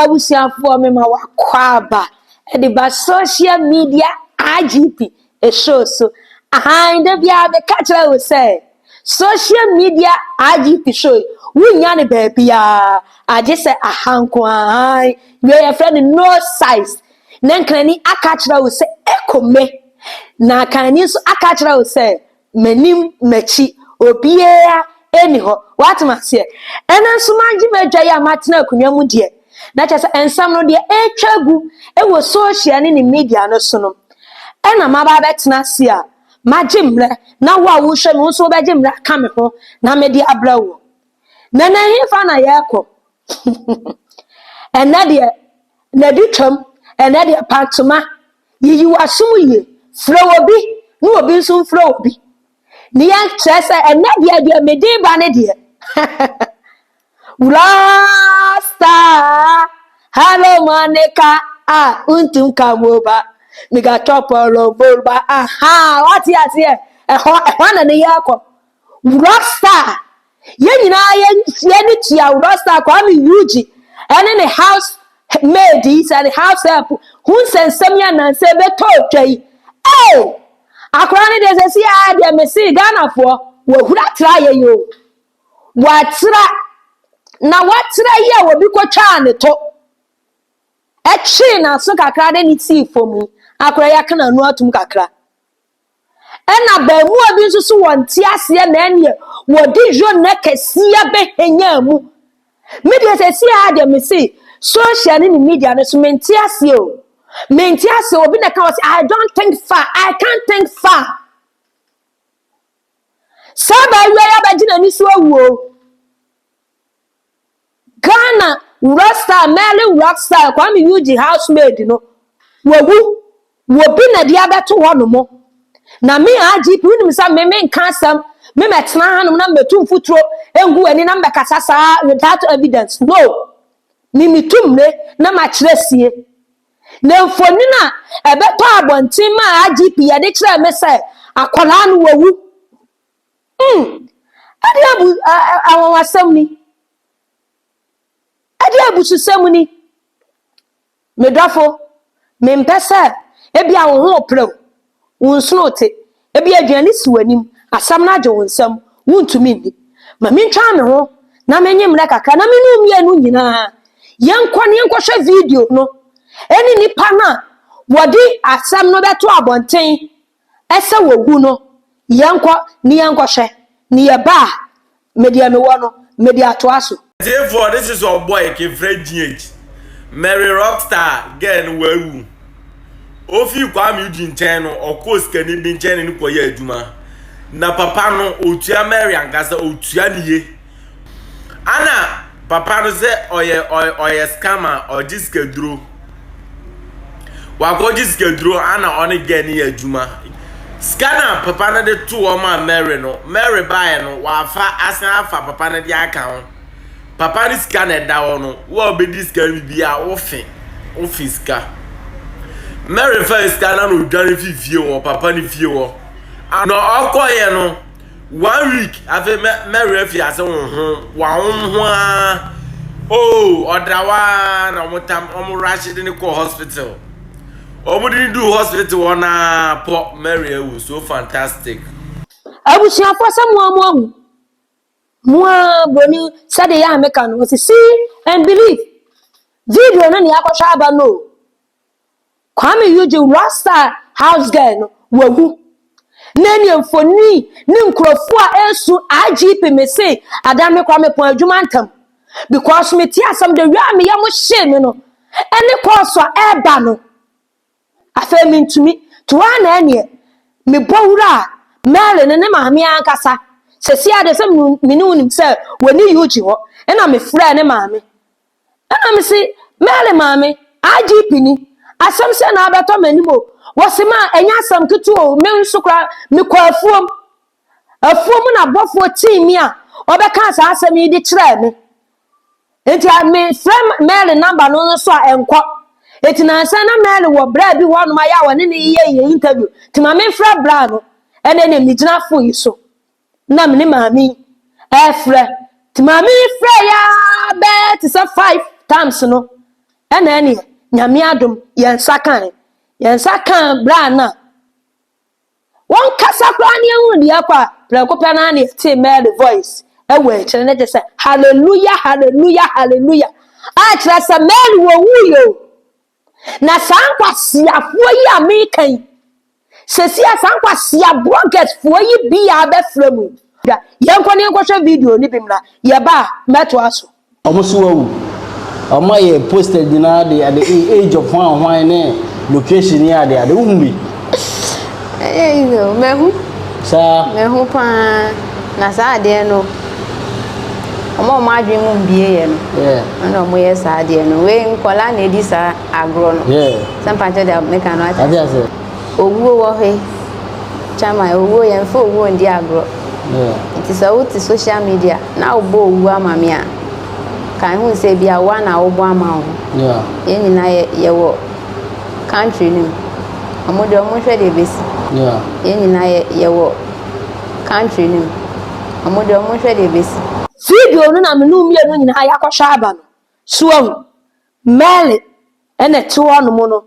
abusuafoɔ mema w'akwaaba de ba social media IGP show so ahan da biara meka kyerɛ wo sɛ social media IGP show yi wonnya ne baabiara agye sɛ aha nko ahan wei yɛfrɛ no no size na nkrani aka kyerɛ wo sɛ ɛkɔ me na kanani nso aka kyerɛ wo sɛ m'anim m'akyi obiara ɛni hɔ watom aseɛ ɛna nso magye m'adwa yi a matena akonnwa mu deɛ na kyɛ sɛ nsɛm no deɛ ɛretwa gu ɛwɔ social ne ne media no so no ɛna maba abɛtena ase a magye mmerɛ na wo a wohwɛ me nso wobɛgye mmerɛ aka me ho na mede abrɛ wo na na hefa na yɛrekɔ ɛnɛ deɛ na di twam ɛnɛ deɛ pantoma Yiyi w'asom yie. Frɛ obi na obi nso mfrɛ obi. Ne yɛ kyerɛ sɛ ɛnɛ deɛ deɛ mede ba ne deɛ. Rasta Hello Monica a ntum ka moba Mega chopolo volba aha wate aseɛ ɛhɔ ɛhɔ na ne yɛ kɔ. Wura Star, Yɛn nyinaa yɛn yɛni tua Wura Star Kwame Yuji ɛne ne house maid yi sɛ ne house help ho nsɛnsɛm yi anansɛ ɛbɛtɔ twa yi. Ee! Akora no deɛ sɛ si a deɛ mese Ghanafoɔ wɔahura tra yɛ yi o. Wɔatra na wɔatra yi a wɔbi kɔtwaa ne to ɛtwee n'aso kakra de ne sii fam yi akora yɛaka n'ano atom kakra. Ɛna abaamua bi nso so wɔnte aseɛ na ɛneɛ wɔde yona kɛseɛ bɛhɛnyaa mu. Me deɛ sɛ si ha deɛ mese social ne ne media no so mente aseɛ o. Mente aseɛ obi na ka wɔ sɛ I don't think far, I can't think far. Saa baawia yi abɛgye n'ani so awuo. Ghana Wura Star, Merlin Wura Star, Kwame Yuji housemaid no, wawu. Wɔ bi na de abɛto hɔ nom. Na me IGP, wonim sɛ me menka asɛm, me mɛtena ha nom na mɛtu mfuturo ngu w'ani na mɛkasa saa without evidence. No. Me metu mmire na makyerɛ sie. Na mfonin a ɛbɛtɔ abɔnten maa IGP yɛde kyerɛɛ me sɛ akwadaa no wawu. Mm, ɛdeɛ abu, a, a, anwanwasɛm ni. Ɛdeɛ abususɛm ni. Me dɔfo, mempɛ sɛ ebi a wo ho repere wo, wo nsono rete, ebi aduane si w'anim, asɛm no agye wo nsam, wontumi nni. Ma mentwa me ho na menye mmerɛ kakra na me ne wo mmienu nyinaa yɛnkɔ na yɛnkɔhwɛ video no ɛne nnipa no a wɔde asɛm no bɛto abɔnten ɛsɛ wɔwu no, yɛnkɔ ne yɛnkɔhwɛ ne yɛba a, me deɛ mewɔ no, mede atoa so. Atiefoɔ, this is ur boy kefrɛ GH, Mary Rockstar girl no wawu, ɔfii Kwame Eugene nkyɛn no ɔkɔɔ sikani bi nkyɛn ne no kɔyɛɛ adwuma, na papa no ɔtua Mary ankasa, ɔtua no yie. Ana papa no sɛ ɔyɛ ɔyɛ scammer ɔgye sikaduro wakɔgye sikaduro ana ɔne gɛ no yɛ adwuma sika no a papa no de to wɔn a Mary no Mary baeɛ no wafa asan afa papa no de aka ho papa no sika na ɛda hɔ no wo a wobɛdi sika no bibi a wofe wofe sika Mary fa sika no na odwane fi fie wɔ papa no fie wɔ ana ɔkɔeɛ no one week afei mɛ mɛwerɛ fi ase honhom wahom ho ara oo oh, ɔdawa na wɔn tam wɔn rahyɛ de ne kɔ hospital wɔn de ne du hospital hɔ na pɔ mɛwerɛ awu so fantastic. abusuafoɔ sɛ mo a mo ahu mo a buroni sɛdeɛ yɛ a meka no wɔsi see and believe video no ne akɔhwɛ aba no o. Kwame Eugene Rasta House Girl no wawu na ne mfoni ne nkurɔfoɔ a ɛresu IGP mese adan me kwa mepɔn adwuma ntam because mete asɛm de wia a meyɛ mo hyee me no ɛne kɔɔso a ɛreba no afei mentumi toa na ɛneɛ mebɔ wura a mɛle ne ne maame ankasa sɛsi ade sɛ mene wonim sɛ wɔne yugi hɔ ɛna mefrɛ ne maame Ɛna me se, Mary maame, IGP ni, asɛm sɛ na abɛtɔ m'anim o. Wɔse ma ɛnyɛ asɛm ketewa o, me nso koraa mekɔɔ afuom. Afuom na bɔfoɔ tii me a ɔbɛkaa saa asɛm yi de kyerɛɛ me. Enti mefrɛ Mary namba no nso a ɛnkɔ. Enti nansa na Mary wɔ bra bi hɔ nom a yɛ a wɔne no yɛ yɛ interview. Nti ma memfrɛ bra no ɛnɛ na megyina fo yi so. na me ne maame ɛɛfrɛ te maame yi frɛ ya bɛɛ te sɛ five times no ɛna ɛneɛ nyame adom yɛn nsa kan yɛn nsa kan bra na wɔn kasa koraa ne ɛhu deɛ kɔ a prɛko pɛ naa ne ɛte Mary voice ɛwɔ akyire ne te sɛ hallelujah hallelujah hallelujah a kyerɛ sɛ Mary wɔ wuu yɛ o Na saa nkwaseafoɔ yi a meka yi, sɛsi a saa nkwasea blɔgɛsfoɔ yi biaa bɛfrɛ mu yi. Hwɛ, yɛnkɔ ne yɛnkɔhwɛ video no bi mmra, yɛba a, mɛtoa so. Wɔn nso wɔawu. Wɔn ayɛ posted nyinaa de ade, age of hwan hwan ne location ne ade ade. Wohu bi? Ɛyɛ easy o, mahu. Saa. Mahu paa. Na saa adeɛ no, wɔn a wɔn adwene mu mbie yɛ no. Ɛna wɔn yɛ saa adeɛ no. Wei nkɔla na edi saa agorɔ no. Sɛ mpakyɛ deɛ meka no ate ase. Owuo wɔ he. Chama, owuo yɛn fɛ owuo ndi agorɔ. Nti sɛ wote social media na wobɔ owuo ama me a, ka ehu sɛ ebi a woa na wobɔ ama wo ho. Yɛn nyinaa yɛwɔ. Country no mu. Wɔn deɛ wɔnhwɛ deɛ ɛbɛsi. Yeah. Yɛn nyinaa yɛ yɛwɔ country no mu. Wɔn deɛ wɔnhwɛ deɛ ɛbɛsi. Video no na me ne wo mmienu nyinaa yɛakɔhwɛ aba no. So ahu? Merle na ɛte hɔnom no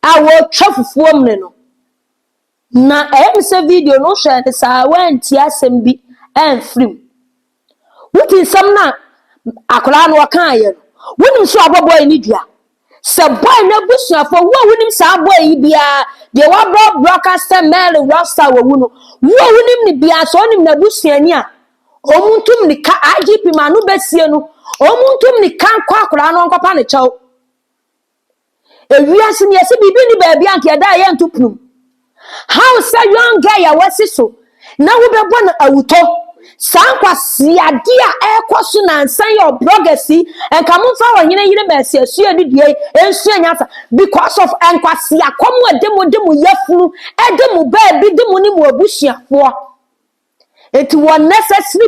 a wɔretwa fufuo mene no. Na ɛyɛ me sɛ video no wohwɛɛ no saa woantie asɛm bi amfiri mu. Wodi nsɛm no a akwadaa no ɔkaeɛ no, wonim sɛ wabɔ bɔe no dua. Sɛ bɔe no abusuafoɔ, wo a wonim saa bɔe yi biara, deɛ wabrɛ broadcast sɛ Mary Rockstar wawu no, wo a wonim no biara, sɛ wonim n'abusuani a, wɔn ntu mmirika, IGP ma ano bɛsie no, wɔn ntu mmirika nkɔ akwadaa no nkɔpa no kyɛw. Ewiase ni yɛsi biribi ni baabi a nka yɛda a yɛnto punum. How sɛ young guy a wasi so na wobɛbɔ no awutɔ. Saa nkwaseade a ɛrekɔ so nansa yi ɔ bloggers yi nka momfa ɔhene yere mɛsi asua ne dua yi nsua nyansa because of nkwaseakɔm a ɛde mo de mo yafunu ɛde mo baabi de mo ne mo abusuafoɔ. Enti wɔ necessary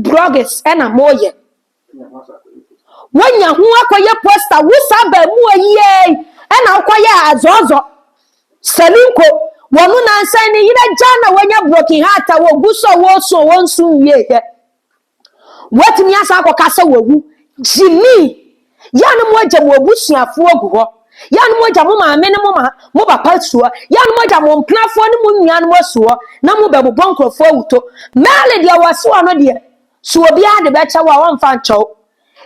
bloggers na mo yɛ. Wonya ho akɔyɛ poster wo saa bɛɛmoa yi ei ɛna wokɔyɛ azɔzɔ. Salinko wɔn nansan ne yere agya na wanya broken heart a wɔgu so a wɔresu a wɔnsu nwie yɛ. Woatumi asan akɔka sɛ wawu. Gyimi, yɛ a na moagya mo abusuafoɔ agu hɔ. Yɛ a na moagya mo maame ne mo ma, mo papa su hɔ. Yɛ a na moagya mo mpenafoɔ ne mo nnuanom asu hɔ na mobɛbobɔ nkurɔfoɔ awuto. Mɛɛle deɛ wɔasi hɔ no deɛ, so obiara de bɛkyɛ wo a, wɔmfa nkyɛ wo.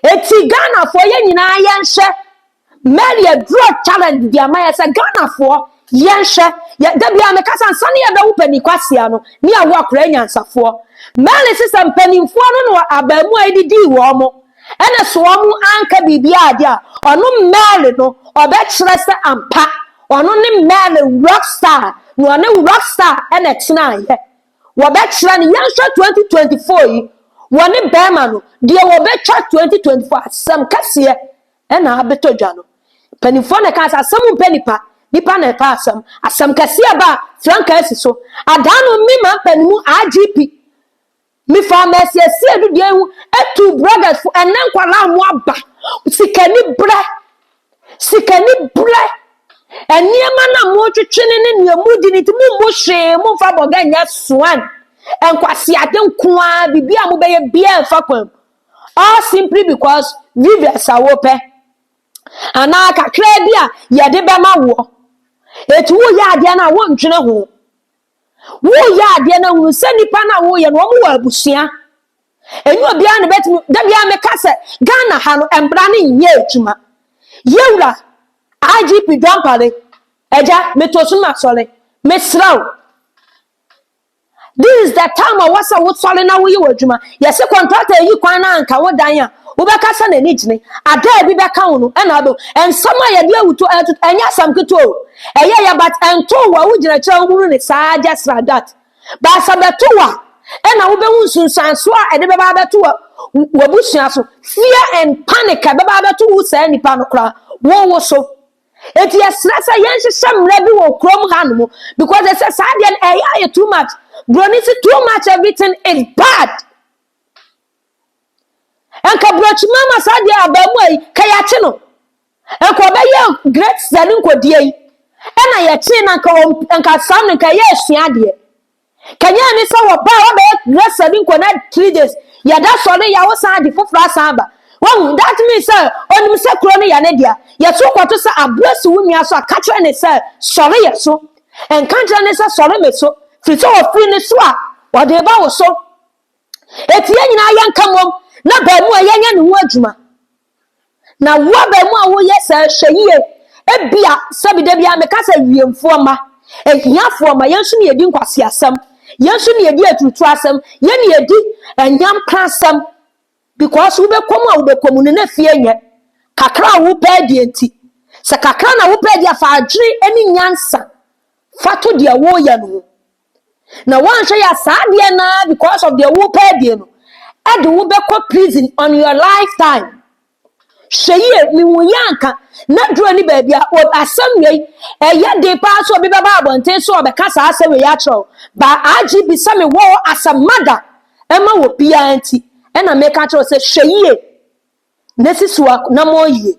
Enti Ghanafoɔ, yɛn nyinaa yɛnhwɛ. Mary adura challenge de ama yɛ sɛ Ghanafoɔ yɛnhwɛ yɛ da biara meka sɛ ansa ne yɛbɛwo panin kwasia no ne yɛawo akora anyansafoɔ Mary se sɛ mpanimfoɔ no na abaamuwa yi de dii wɔn mo ɛna so wɔn anka biribiara de a ɔno Mary no ɔbɛkyerɛ sɛ ampa ɔno ne Mary rockstar na ɔne rockstar ɛna ɛtenaeɛ wɔbɛkyerɛ no yɛnhwɛ 2024 yi wɔne bɛrima no deɛ wɔbɛtwa 2024 asɛm kɛseɛ Ɛna abɛtɔ dwa no, mpanimfoɔ na ɛkaa sɛ asɛm mpɛ nnipa, nnipa na ɛpɛ asɛm. Asɛm kɛseɛ ba a, frankaa asi so. Adaa no me ma mpanimu IGP, mefaa masiesie dudua ho atu bloggers fo ɛnɛ nkwadaa a wɔaba sikani berɛ, sikani berɛ, nneɛma no a motwetwe ne ne nea modi no nti mommu hwee momfa bɔga nyɛ soan nkwaseade nko ara biribi a mobɛyɛ biara mfa kwan mu All simply because viewers a wɔpɛ anaa kakraa bi a yɛde bɛma woɔ. Eti woyɛ adeɛ no a wondwene ho. Woyɛ adeɛ no a hunu sɛ nipa no a woyɛ no wɔn wɔ abusua. Ɛnyɛ obiara na bɛtumi da biara meka sɛ Ghana ha no mmara no nyɛ adwuma. Yɛwura IGP Dwampale agya meto so masɔre mesrɛ wo This is the time a wɔsɛ wosɔre na woyɛ w'adwuma. Yɛse kɔntrata yi kwan na anka wo dan a wobɛka sɛ n'ani gyene. Ada a ebi bɛka wo no ɛna abɛhu. Nsɛm a yɛde awuto ɛtoto ɛnyɛ asɛm ketewa o. Ɛyɛ ya but ɛntoo wo a wogyina kyerɛ a wohunu ne saa just like that. But sɛ bɛto wo a ɛna wobɛhu nsunsuansoɔ a ɛde bɛba abɛto wɔ w'abusua so. Fear and panic a ɛbɛba abɛto wo saa nipa no koraa wowo so. eti yɛsrɛ sɛ yɛnhyehyɛ mmara bi wɔ kurom hanom because ɛsɛ saa deɛ no ɛyɛ ayɛ too much broni si too much everything is bad nka brokyi mama saa deɛ abaamu ayi ka yɛakye no nka ɔbɛyɛ great sani nkɔdie yi ɛna yɛkye na nka saa no nka ɛyɛ asua adeɛ Kenya ne sɛ wɔbaa hɔ bɛyɛ wrestler bi nkɔ na three days yɛda sɔre yɛ awosan ade foforɔ asan aba wahu that means sɛ onim sɛ kuro no yɛ ne dea yɛso kɔto sɛ aboa si wo nua so a ka kyerɛ ne sɛ sɔre yɛ so nka nkyerɛ ne sɛ sɔre me so firi sɛ ɔfiri ne so a ɔde ba wo so eti yɛn nyinaa yɛnka mom na baa mu a yɛnyɛ ne ho adwuma. Na wo abaamu a woyɛ saa hwɛ yie. Ebia sɛbi da biara meka sɛ wiemfoɔ mma, ahiafoɔ mma, yɛn nso na yɛdi nkwaseasɛm, yɛn nso na yɛdi aturutu asɛm, yɛn na yɛdi anyampa asɛm. Because wobɛkɔ mu a wobɛkɔ mu no na fie nyɛ kakra a wopɛ adie nti. Sɛ kakra na wopɛ adie a fa adwene ne nyansa fa to deɛ woyɛ no ho. na woanhwɛ yɛ saa adeɛ naa because of deɛ wopɛ adie no ɛde wobɛkɔ prison on your lifetime hwɛ yie mehu yɛ anka na duro ne baabi a asɛm wei ɛyɛ de paa sɛ obi bɛba abɔnten so ɔbɛka saa asɛm wei akyerɛw ba agye bi sɛ mewɔ asɛm mada ɛma wɔ biara nti ɛna meka kyerɛw sɛ hwɛ yie na si so anammɔn yie.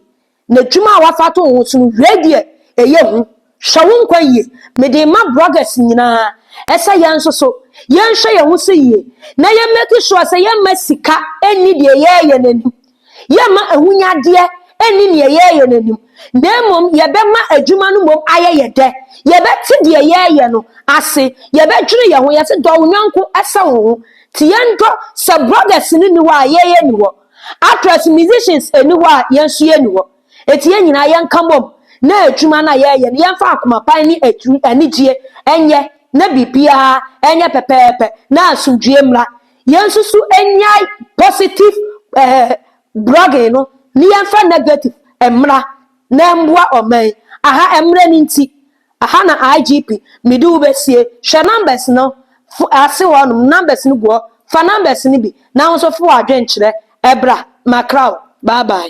N'adwuma a wafa ato wo ho so no, wiei deɛ, ɛyɛ hu. Hwɛ wo nkwa yie. Mede rema bloggers nyinaa sɛ yɛn nso so, yɛnhwɛ yɛn ho so yie, na yɛn make sure sɛ yɛmma sika nni deɛ ɛyɛ yɛn anim. Yɛmma ahonyadeɛ nni deɛ ɛyɛ yɛn anim, na mmom yɛbɛma adwuma no mmom ayɛ yɛn dɛ. Yɛbɛte deɛ yɛreyɛ no ase, yɛbɛdwene yɛn ho, yɛse dɔ wo yɔnko sɛ wo ho. Nti yɛndɔ, sɛ bloggers no nni hɔ a, yɛn yɛnni hɔ. Actors, musicians ɛni hɔ a yɛn nso yɛnni hɔ. Enti yɛn nyinaa yɛnka mmom na adwuma no a yɛreyɛ no yɛmfa akoma pan ne atiri anigyeɛ nyɛ na biribiara nyɛ pɛpɛɛpɛ na asomdwoeɛ mmra. Yɛn nso so nnyae positive eh, blogging no na yɛmfa negative mmra na ɛmmoa ɔman. Aha mmerɛ no nti. Aha na IGP mede wo bɛsie. Hwɛ numbers no fo ase hɔ nom, numbers no gu hɔ. Fa numbers no bi na wo nso fa w'adwene kyerɛ bra, makra wo. Bye bye.